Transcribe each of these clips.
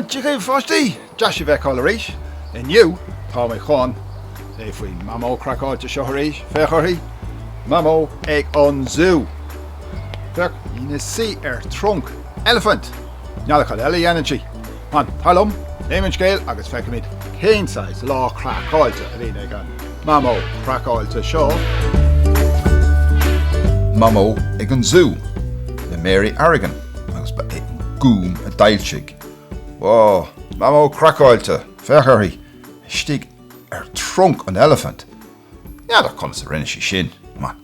Dia dhaoibh a pháistí! Deas sibh a fheiceáil arís. Inniu tá mé chun léamh faoin Mamó Craiceáilte seo arís. Féach uirthi! Mamó ag an zú! Féach, ina suí ar trunc eilifint! N'fheadar cad eile a dhéanann sí. Ó, tar liom, léifimid an scéal agus feicfimid cén saghas lá craiceáilte a bhíonn ag an mamó craiceáilte seo. Mamó ag an Zú le Mary Arrigan agus ba é an Gúm a d'fhoilsigh. Wá, mamó craiceáilte, féach uirthi, istigh ar trunc an eilifint. N'fheadar conas a rinne sí é sin, mar.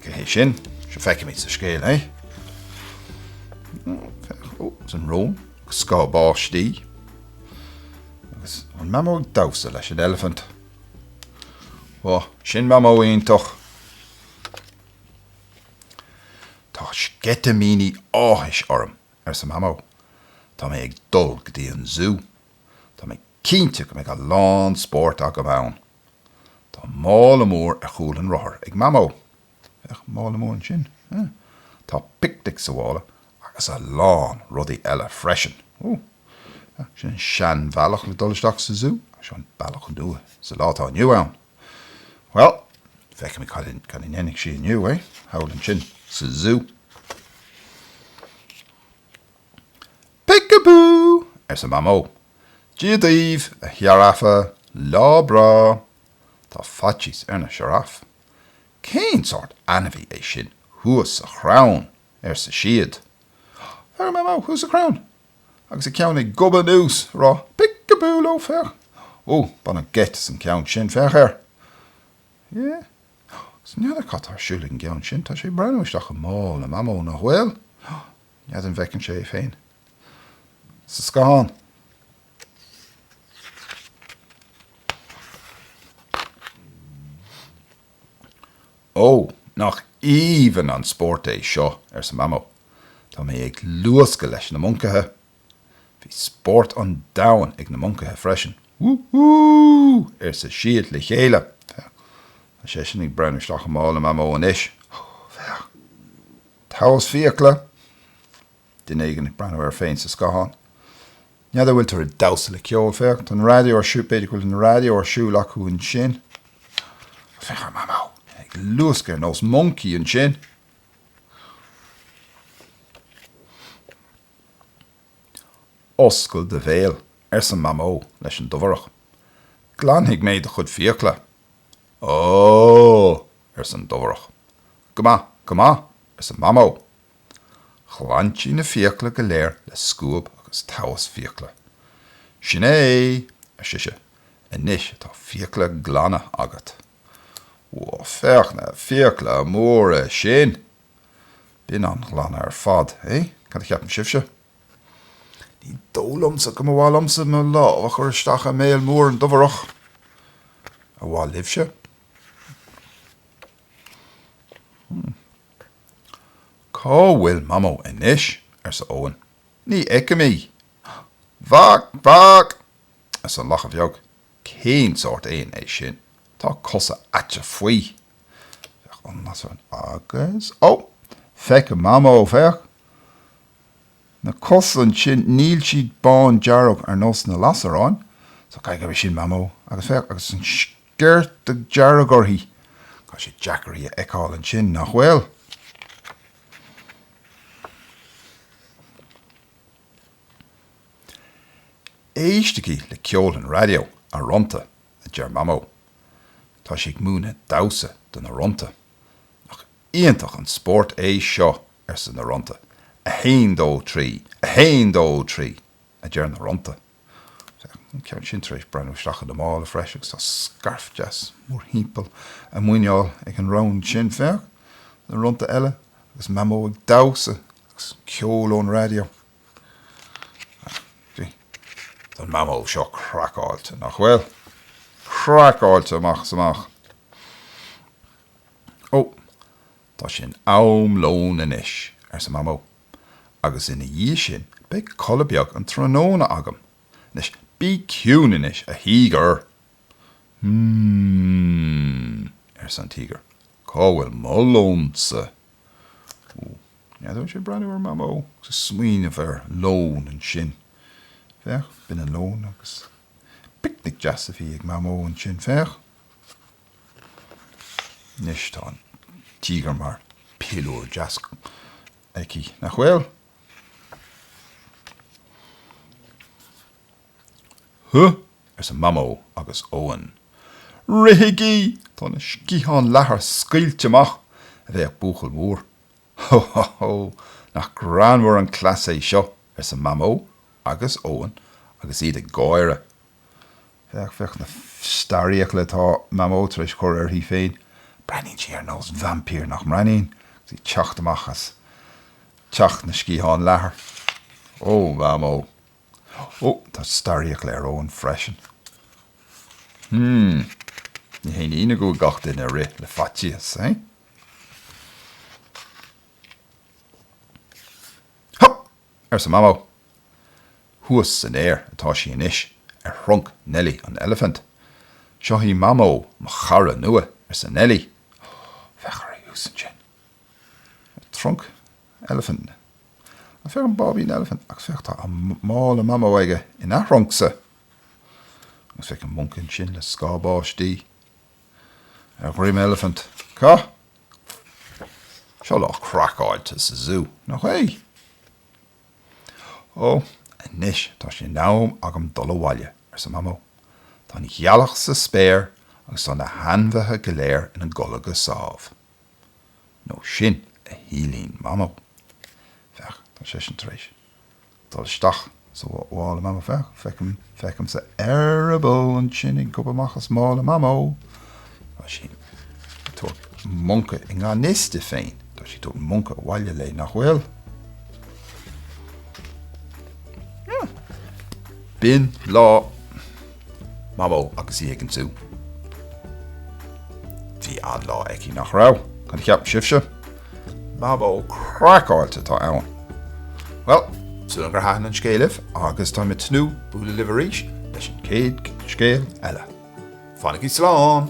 Cé hé sin? Feicfimid sa scéal é. Ó, is an rón agus scáth báistí. Agus an mamó ag damhsa leis an eilifint. Wá, sin mamó iontach. Tá sceitimíní áthais orm, arsa mamó. Tá mé ag dul go dtí an zú. Tá mé cinnte go mbeidh a lán spórt agam ann. Tá mála mór ar chúl an rothair ag Mamó. Féach, mála mór ansin. Huh! Tá picnic sa mhála agus a lán rudaí eile freisin. Huh! Huh! Sin an seanbhealach le dul isteach sa zú ach seo an bealach nua sa lá atá inniu ann. Bhuel, feicfimid cad a, cad a dhéanfaidh sí inniu, eh? Thall ansin sa zú. Peek-a-boo! arsa Mamó. Dia daoibh, a Shioráfa, lá breá! Tá faitíos ar na sioráif. Cén sórt ainmhí é sin thuas sa chrann? ar siad. Féach, ar Mamó, thuas sa chrann! agus a ceann ag gobadh anuas, ag rá Peek-a-boo leo, féach! Ó, baineadh geit as an gceann sin, féach air! Hé? N'fheadar cad tá ar siúl ag an gceann sin, tá sé ag breathnú isteach i mála Mamó, nach bhfuil? N'fheadar an bhfeiceann sé é féin sa scáthán? Ó, nach aoibhinn an spórt é seo, arsa Mamó. Tá mé ag luascadh leis na moncaithe. Bhí spórt an domhain ag na moncaithe freisin. Wú hú! ar siad le chéile. Féach, tá seisean ag breathnú isteach i mála Mamó anois. Féach! Taos fiacla, duine éigin ag breathnú air féin sa scathán. N'fheadar an bhfuiltear ag damhsa le ceol, féach, tá an raidió ar siúl, b'fhéidir go bhfuil an raidió ar siúl acu ansin. Ó, féach ar Mamó, ag luascadh ar nós moncaí ansin. Oscail do bhéal, arsa Mamó leis an Dobhareach. Glanfaidh mé do chuid fiacla. Ó! arsa an dobhareach. Go maith, go maith, arsa Mamó. Ghlan sí na fiacla go léir le scuab agus taos fiacla. Sin é, ar sise, anois atá fiacla glana agat. Bhuel, féach na fiacla móra sin! Bíonn an-ghlan ar fad, hé? Cad a cheapann sibhse? Ní dóigh liomsa go mba mhaith liomsa mo lámh a chur isteach i mbéal mór an dobhareach. Ar mhaith libhse? Cá bhfuil Mamó anois? arsa Eoghan. Ní fheicim í. Vác! Vác! arsa Lacha Bheag. Cén sórt éan é sin? Tá cosa aite faoi. Lasairéan. Agus. Ó! Feicim Mamó, féach. Na cosa ansin, níl siad bán dearg ar nós na lasairéin, so caithfidh gurb shin Mamó. Agus féach, agus an sciorta dearg uirthi. Tá sé deacair í a fheiceáil ansin, nach bhfuil? Éistigí le ceol an raidió, a Rónta, a deir Mamó. Tá sí ag múineadh damhsa do na Rónta. Nach iontach an spórt é seo! arsa na rónta. A haon dó trí! A haon dó trí! a deir na rónta. Féach an ceann sin tar éis breathnú isteach ina mála freisin agus tá scairf deas mórthimpeall a muineál ag an rón sin. Féach! na rónta eile agus Mamó ag damhsa agus ceol ón raidió. Sea, tá an Mamó seo craiceáilte, nach bhfuil? Craiceáilte amach is amach. Ó, Tá sé in am lóin anois, arsa Mamó, agus ina dhiaidh sin beidh codladh beag an tráthnóna agam. Anois bí ciúin anois, a Thíogair! Mmm, arsa an Tíogar, cá bhfuil mo lónsa? Ó, n'fheadar an bhfuil sé ag breathnú ar Mamó agus ag smaoineamh ar lón ansin. Féach, b'in an lón agus picnic deas a bhí ag Mamó ansin, féach. Anois tá an tíogar mar piliúr deas aici, nach bhfuil? Huh! arsa Mamó agus Eoin. Rithigí! Tá na sciatháin leathair scaoilte amach, a bhéic buachaill mór. Hó hó hó! Nach greannmhar an cleas é seo! arsa Mamó agus Eoin agus iad ag gáire. Féach, féach na starrfhiacla atá Mamó tar éis cur uirthi féin. Breathnaíonn sí ar nós vaimpír, nach mbreathnaíonn? Agus í ag teacht amach as teach na sciathán leathair. Ó, Mamó. Ó, tá starrfhiacla ar Eoin freisin. Hmm. Ní haon ionadh go bhfuil gach duine ag rith le faitíos, eh? Hup! arsa Mamó. Thuas san aer atá sí anois, ar thrunc Nellie an Eilifint. Seo í Mamó mo chara nua, arsa Nellie. Féach uirthi thuas ansin. Ar trunc eilifint. Á féach an báibín eilifint, agus féach tá mála Mamó aige ina thruncsa. Agus féach an moncaí ansin le scáth báistí ar dhroim eilifint. Cá. Seo lá craiceáilte sa zú, nach é? Ó, anois tá sé in am agam dul abhaile, arsa Mamó. Tá an ghealach sa spéir agus tá na hainmhithe go léir ina gcodladh go sámh. Nó sin a shíleann Mamó. Féach, tá seisean tar éis. dul isteach sa mhála Mamó, féach, feicimse eireaball ansin ag gobadh amach as mála Mamó. Tá sí ag tabhairt moncaí, i ngan fhios di féin, tá sí ag tabhairt moncaí abhaile léi, nach bhfuil? B'in lá. Mamó agus í ag an zú. Bhí an-lá aici nach raibh? Cad a cheapann sibhse? Mamó craiceáilte atá ann. Bhuel, súil agam gur thaitin an scéal libh agus táim ag tnúth le bualadh libh arís leis an chéad scéal eile. Fanaigí slán!